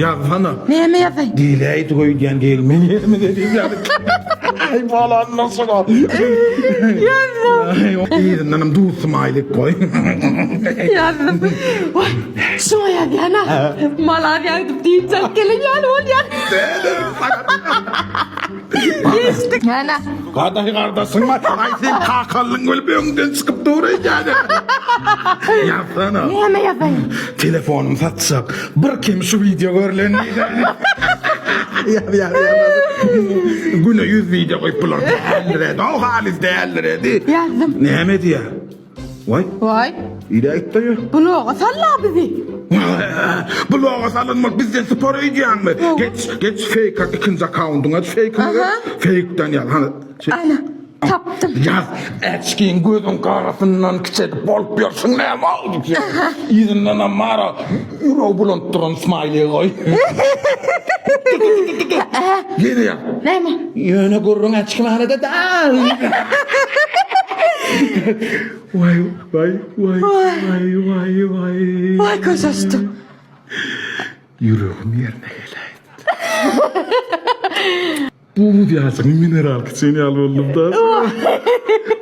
Ýazsana. Näme ýazaýyn? Diýläýdik öýdýän gelme ýerimize diýýädik. Aý bolanda şuňa. Ýazdym. Yzyndanam duz smaýlik goý. Ýazdym. Oý, şuňa ýazýan-a. Malar ýagdyp diýip çalt gelen ýaly bolýar. Ana. Gadaş gardaşyň bar. Ay sen kakallyň bölüp öňden çykyp dur eýjäni. Ýazsana. Näme ýazaýyn? Telefonumy satjak. Bir kim şu video görlen diýjäni. Ýaz ýaz ýaz. Güne 100 video goýup bular. Däldir edi. O halis däldir edi. Ýazdym. Näme diýýär? Waý, Waý, ile aýt daýy. bloga sal-la bizi. Bloga salynmak bizden spor öýdýäňmi? Geç, geç feýk at ikinji akkauntyňy aç feýkiňi de. Aha. Feýkden ýaz. Hany. çek. Ana, tapdym. Ýaz. Äçgin gözüň garasyndan kiçelik bolup ýörşüň näme oldu? Yzyndanam mara Ýüregi bulant duran smiley goý. Ýene ýa. Näme? Ýöne gürrüň açykmanada dal. Waý, waý, waý, waý, waý, waý. Waý göz açdym. Ýüregim ýerine geläýdi. Bu buz ýaşyň mineral kiçen ýaly boldum da.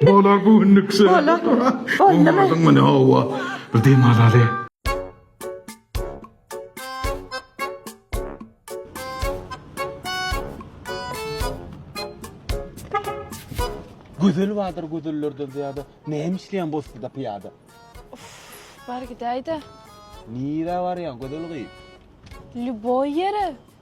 Bolar bu günlük şey. Bolar. Boldum. Boldum mu ne hava. Bir dem alaly. Gözel vardır gözellerden ziyade. Ne hem işleyen bozdu da piyade. Bar gidäýde. Nire var ya gözel kıyıp. Lüboý ýere.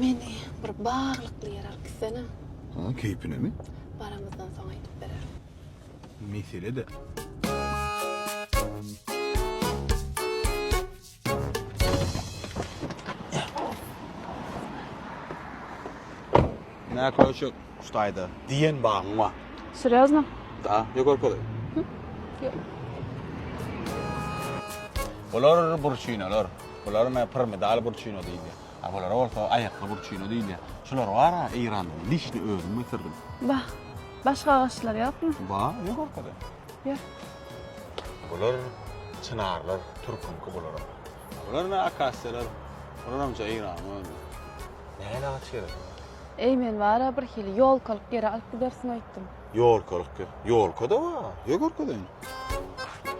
Meni bir baglykly ýere alyp gitsene. Ha, keýpinemi? Baramyzdan soň aýdyp bererin. Mesele-dä. Nä köşek, Hudaýda diýen bagyň bar? Serýozno? Da, ýa görkezeyim? Ýok. Bular burçinolar. Bulara men pirmidal burçino diýilýär. A bulara bolsa aýakly burçino diýilýär. Şular bar-a Eýrandan, lişni özüm getirdim. Bah, başga agaçlar ýokmy? Bar, ýok arkadaş. Ýok. Bular çynarlar, türküňki bularam. Bular ine akasiýalar. Bularam ja Eýranyň özi. Nähili agaç gerek olara? Eý, men bar-a birhili ýolkalyk ýere alyp gidersiň öýtdüm. Ýolkalyk ýer? Ýolka-da bar. Ýör görkezeýin.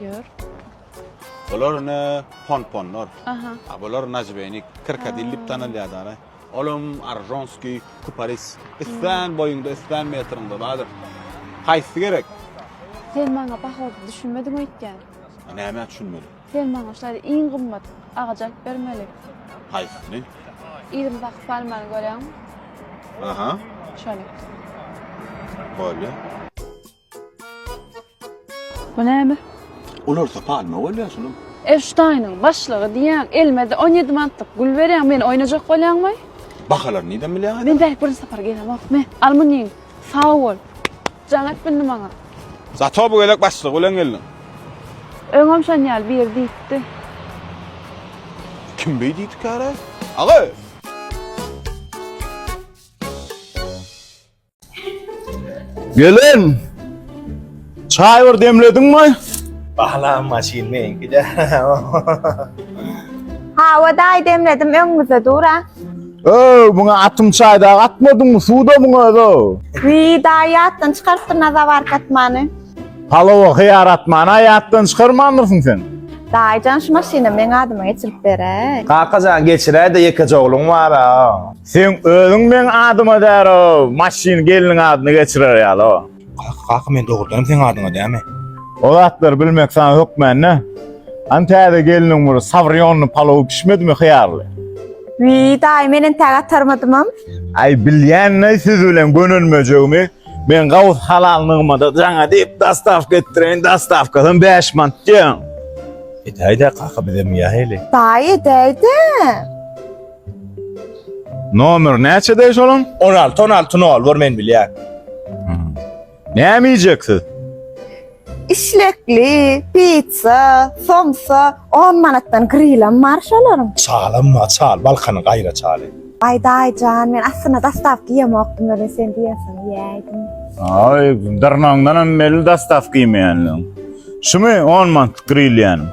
Ýör. Bular ine ponponlar. Aha. A bular najbenik, krokadil diýip tanalýar dara. Olam aržonskiý kuparis. Islän boýuňda, islän metriňde bardyr. Haýsy gerek? Sen maňa bahasyz düşünmediň öýtýän. Nämä düşünmeli? Sen maňa şaýly iň gymmat agajy alyp bermeli. Haýsyny? Yzym bakyp barmany görýäňmi? Aha. Şony. Bolýa. Bu näme? Olar da palma bolýar şunuň. Epştaýnyň başlygy diýýäň, elmede on ýedi mantlyk gül berýäň, meni oýnajak bolýaňmy? Bahalary nirden bilýäň aýt? Men bärik birinji sapar gelemok, me. Almunyň, sag bol. Jaň etmindi maňa. Zato bu gezek başlygy bilen geldiň. Öňem şon ýaly biri diýipdi. Kim beý diýdi käre? Aga! Gelen! Çaý bir demledin mi? Bahlam maşin men gide. Hawa daýy demledim öňüňizde dur ha. Öö, muňa atym çaýda atmadyn mı? Suwda muňa ödo. Wi daýy atdan çykarypdyr naza bark atmany. Palowa hyýar atmany aýatdan çykarmandyrsyň sen. Daýyjan şu maşyny meň adyma geçirip beräý. Kakajan geçiräýde ýekeje ogluň bar-a. Seň özüň meň adyma däro maşyn gelniň adyny geçirer ýaly. Kaka kaka men dogrudanam seň adyňa dämi. O zatlary bilmek saňa hökmände. Hany täze gelniň bir savrionny palowy bişmedimi hyýarly. Wiý daýy men entäk atarmadymam. Aý bilýänleý siz bilen gönenmejegimi men gawus halal nygmada jaňa diýip dostawka etdireýin dostawkasam bäş mant diýen. Edäýdä kaka bizem iýäheli. Daýy edäýdä. Nomer näçe deý şolan? 16, 16 nol bor men bilýän. Näme iýjek siz? Işlekli, pizza, somsa 10 manatdan grilam bar şolaryň. Çalam ma çal, balkany gaýra çaly. Ay daýjan, men aslynda dastavka ýemokdym, ölen sen diýensiň ýäýdim. Ay, dyrnagyňdan hem belli dastavka ýemeýänligiň. Şumy 10 manat grill ýanym?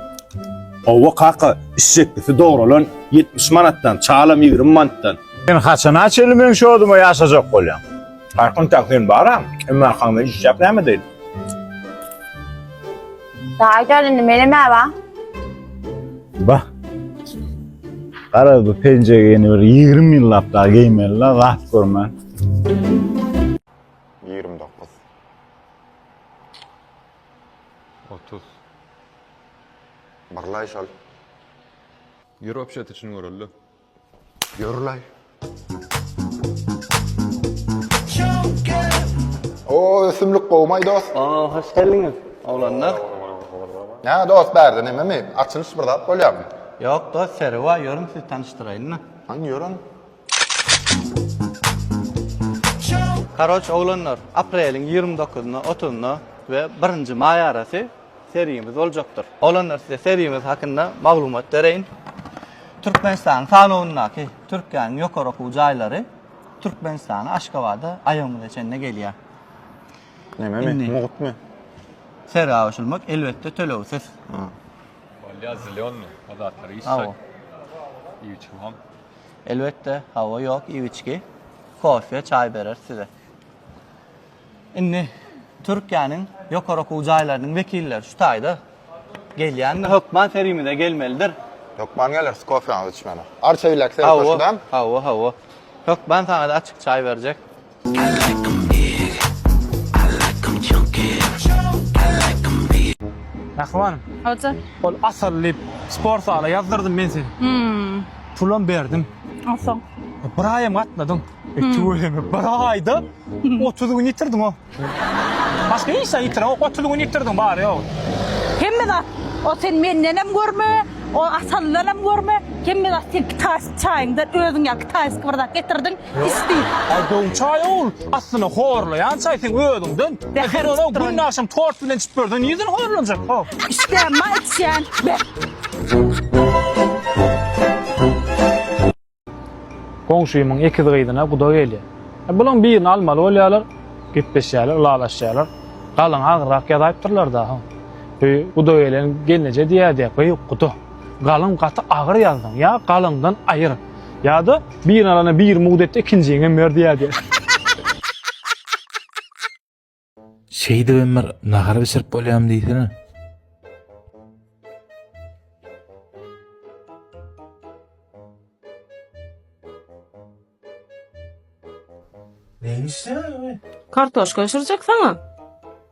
Hawa kaka, işjeklisi dogralan ýetmiş manatdan, çalam ýigrimi manatdan. Sen haçana çenli meň şoduma ýaşajak bolýaň? Arkan kaka sen bara, emma arkaňda iş ýap näme edeyim? Daýy däl indi menem äba. Bah. Garaz bu penjegi ýene bir ýigrimi ýyllap dagy geýmeli la zat görmän. Ýigrimi dokuz. Otuz. Barlaý şol. Ýör obşet içini göreli. Ýörlaý. O ösümlik gowmaý dost. Aa hoş geldiňiz. Oglanlar. Nä dost bärde nememi? Açylyş bir zat bolýarmy? Ýok dost seri bar ýörüň sizi tanyşdyraýynda. Haň ýörün. Karoç oglanlar apreliň ýigrimi dokuzynda otuzynda we birinji maý arasy sergimiz boljakdyr. Oglanlar size sergimiz hakynda maglumat bereýin. Türkmenistanyň sanawyndaky Türkiýäniň ýokary okuw jaýlary Türkmenistana Aşgabada aýagymyza çenli gelýär. Nämemi? Mugtmy? Sergä goşulmak elbetde tölegsiz. Bolýa zelýony o zatlar iýsek iýuçumam. Elbetde, hawa ýok iwiçki. Kofe, çaý bereris size. Indi Türkiýäniň ýokary okuw jaýlarynyň wekilleri şu taýda gelýändir. Hökman sergimize gelmelidir. Hökman geleris kofeňizi içmäne. Arça bilek serhoşydam. Hawa, hawa, hawa. Hökman saňa-da açyk çaý berjek. Mähriban. Hoja. Ol asyl diýip sport zala ýazdyrdym men seni. Hmm. Pulam berdim. Asyl. Bir aýam gatnadyň. E, hmm. Tüweleme bir aýda 30 hmm. gün ýitirdiň o. Başga hiç zat ýitiren ok 30 gün ýitirdiň bary ýok. Hemme zat o sen menden hem görme, o asaldan hem görme. Hemme zat sen kitas çaýyňdan özüň ýa kitas bir zat getirdiň. Pis diýip. Aý gowy çaý ogul, aslyna horlaýan çaý seň özüňden. Eger onuň günde agşam tort bilen içip ýörseň nireden horlanjak ho. Içýän ma içýän be. Goňşymyň ekiz gyzyna guda gelýär. Bulaň birini almaly bolýarlar, gepleşýärler, ylalaşýarlar. Galyň agyrrak ýazaýypdyrlar da ho. Öý guda gelen gelneje diýýär diýýär, gyýw guda. Galyň gaty agyr ýazdyň, ýa galyňdan aýyr. Ýa-da birini alana bir mugt et-de ikinjiňi hem ber diýýär diýer. Şeýdibem bir nahar bişirip bolýarmy diýsene. Neýini işleýär ýaly? Kartoşka bişirjek saňa.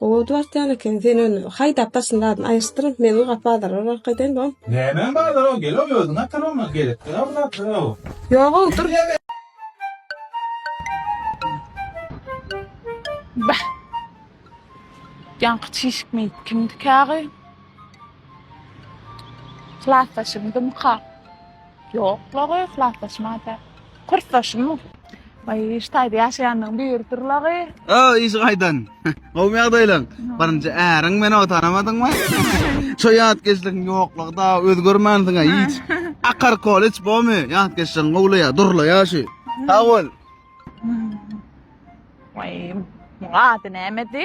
Oba bartýan eken sen ony haýdap daşyny daşyny aýyrsdyryň men uly gap bazara barak edeýin bom. Nämäň bazara gel-ow özüň atar ony gerekdä bu zatlar-ow. Ýog-ow dur. Bäh. Ýaňky çişik meýit kimdikä gyým. Klasdaşymdymyka. Ýok lagy yhlaslaşmada. Kursdaşymmy? Baý iş taýda ýaşaýandygyň biridir lagy. O iş gaýdan. Gowmy ýagdaýlaň? Birinji äriň meni o tanamadyňmy? Şo ýatkeşligiň ýoklugy dagy özgermänsiňä hiç. Akar koleç bomy ýatkeşligiň gowlaýa durlaýa şu. Sag bol. Baý muňa ady nämedi?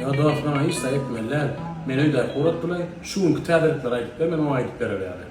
Ýa dos maňa hiç zat etmeli däl. Men öýdäki urat bilen şu günki täzelikleri aýdyp ber men oňa aýdyp berer ýaly.